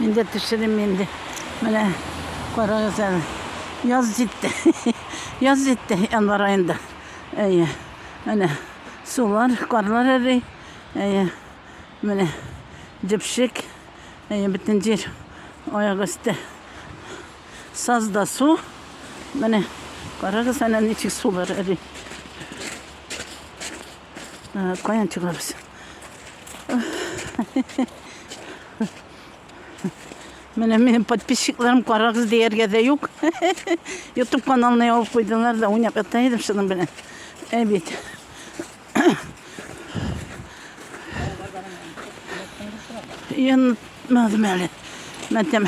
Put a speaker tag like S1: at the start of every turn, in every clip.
S1: Мин дә төшерем инде. Менә карагыз әле. Яз җитте. Яз җитте январ аенда. Әйе. Менә сулар, карлар эри. Әйе. Менә җепшек. Әйе, бөтен җир аяк өсте. Саз да су. Менә карагыз әле ничек сулар эри. Каян чыгабыз? Менә минем подписчикларым карагыз дияргә дә юк. YouTube каналына ябып куйдылар да уйнап ята идем шуның белән. Ә бит. Янмадым әле. Мәтәм.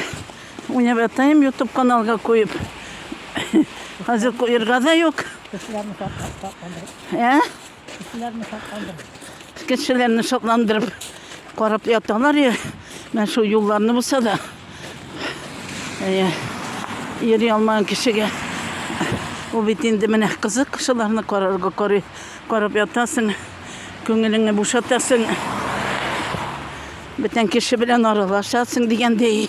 S1: Уйнап ятайым YouTube каналга куеп. Хәзер куерга да юк.
S2: Ә? Кешеләрне шатландырып. Кешеләрне
S1: шатландырып карап яталар я. Менә шул юлларны булса да. Әйе. Йөри алмаган кешегә ул бит инде менә кызык шуларны карарга карый. Карап ятасың. Күңелеңне бушатасың. Бүтән кеше белән аралашасың дигәндәй.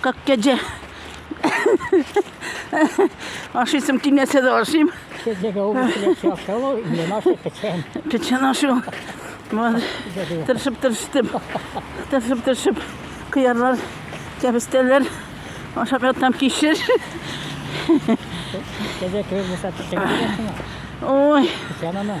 S1: Как кәҗә. Ашыйсым килмәсә дә ашыйм. Кәҗәгә ул киләсе
S2: ашау, мин ашый печән. Печән ашу.
S1: Вот. Тырышып, тырыштым. Тырышып, тырышып. Кыярлар, кәбестәләр. Ашап ятам кишер.
S2: Кәҗә кебек булса печән киләсең. Ой.
S1: Печән ана.